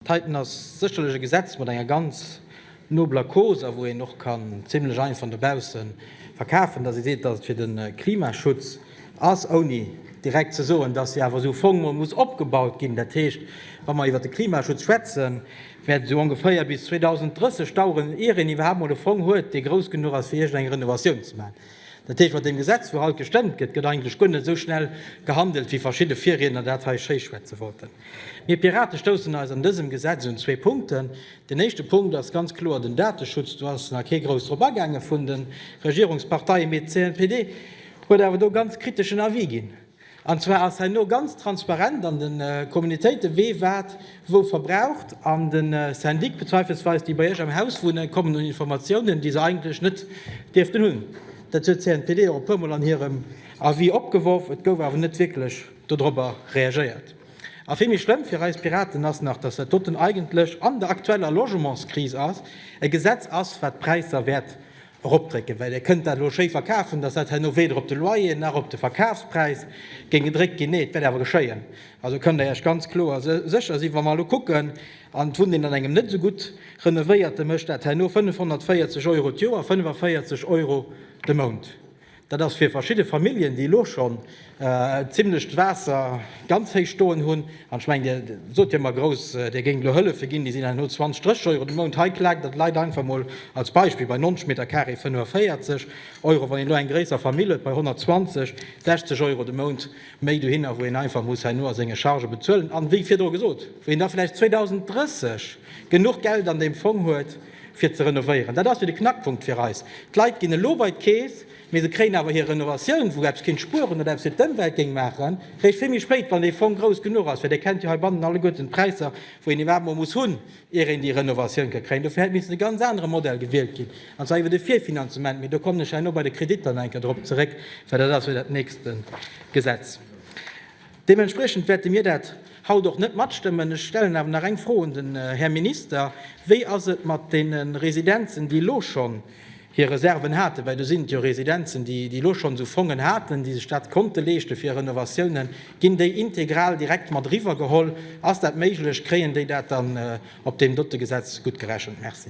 Titan ass sécherlech e Gesetz mat enger ganz nobler Cause a wou een och kann zimlech einfach no bausse verkafen, dass ee seet, dass et fir de Klimaschutz ass, ouni direkt ze soen, dass hie awer esou u Fong mol muss opgebaut ginn. Dat heescht, wa mer iwwert de Klimaschutz schwätzen, wäert et esou ongeféier bis 2030 daueren, ier een iwwerhaapt mol e Fong huet, dee grouss genuch ass, fir iergendeng Renovatioun ze maachen. Dat heescht, mat deem Gesetz, wou haut gestëmmt gëtt, gëtt eigentlech guer net esou schnell gehandelt, wéi verschidde Virriedner dat hei schéischwätze wollten. Mir Pirate stoussen eis an dësem Gesetz un zwee Punkten. Den éischte Punkt ass ganz kloer den Dateschutz. Do ass nach kee grouss drop agaange vun de Regierungsparteien, mee d'CNPD huet awer do ganz kriteschen Avis ginn. An zwar ass herno ganz transparent an de Communautéite wee wat wou verbraucht, an de Syndic bezweifelsweis déi bei Iech am Haus wunne kommen un Informatiounen, déi se eigentlech net dierften hunn. Dat huet d'CNPD och e puer mol an hirem Avis opgeworf, et gouf awer net wierklech dodrobber reagéiert. A vill méi schlëmm fir eis Piraten ass nach, datt dat doten eigentlech an der aktueller Logementskris ass, e Gesetz ass, wat d'Präisser wäert eropdrécken, well Dir kënnt dat elo schéi verkafen, dass dat herno weder op de Loyer nach op de Verkafspräis géing gedréckt ginn. Nee, et wäert awer geschéien. Also kënnt Der Iech ganz kloer sécher sinn, wa mer elo kucken an d'Wunneneen an engem net esou gutt renovéierte mécht dat herno 540 Euro d'Joer, 45 Euro de Mount. Dat ass fir verschidde Familljen, déi elo schonn e zimmlecht Waasser ganz héich stoen hunn, an ech mengen, Dir sot jo ëmmer grouss, Dir géingt elo Hëllefe ginn, déi sinn dann elo 20, 30 Euro de Mount. Hei klaakt et Leit einfach mol, als Beispill, bei 90 Meter Carré 45 Euro, wann een elo eng gréisser Famill huet, bei 120, 60 Euro de Mount méi dohinner, wou een einfach muss herno a senge Chargë bezuelen. A wéi virdru gesot, wou een da vläicht 2030 genuch Geld an deem Fong huet, fir ze renovéieren. Dat ass jo de Knackpunkt fir eis. D'Leit ginn elo bei d'Keess, mee se kréien awer hir Renovatioun, wou eppes kéint spueren oder eppes fir d'Ëmwelt géing maachen, réischt vill méi spéit, wann dee Fong grouss genuch ass. Well Dir kennt jo heibannen alleguerten d'Präisser, wou een iwwerhaapt emol muss hunn, ier een déi Renovatioun ka kréien. Dofir hätt missen e ganz anere Modell gewielt ginn, an zwar iwwer de Virfinanzement. Mee do kommen ech herno bei de Kreditter nach eng Kéier drop zeréck, well dat ass jo dat nächste Gesetz. Deementspriechend wäerte mir dat haut och net matstëmmen. Ech stellen awer nach eng Fro un den Här Minister, Wéi ass et mat deene Residenzen, déi elo schonn hir Reserven haten, well do sinn et jo Residenzen, déi elo schonn esou Fongen haten, déi sech dat konnte leeschte fir Renovatiounen, ginn déi integral direkt mat eriwwergeholl? Ass dat méiglech? Kréien déi dat dann op deem dote Gesetz guttgerechent? Merci.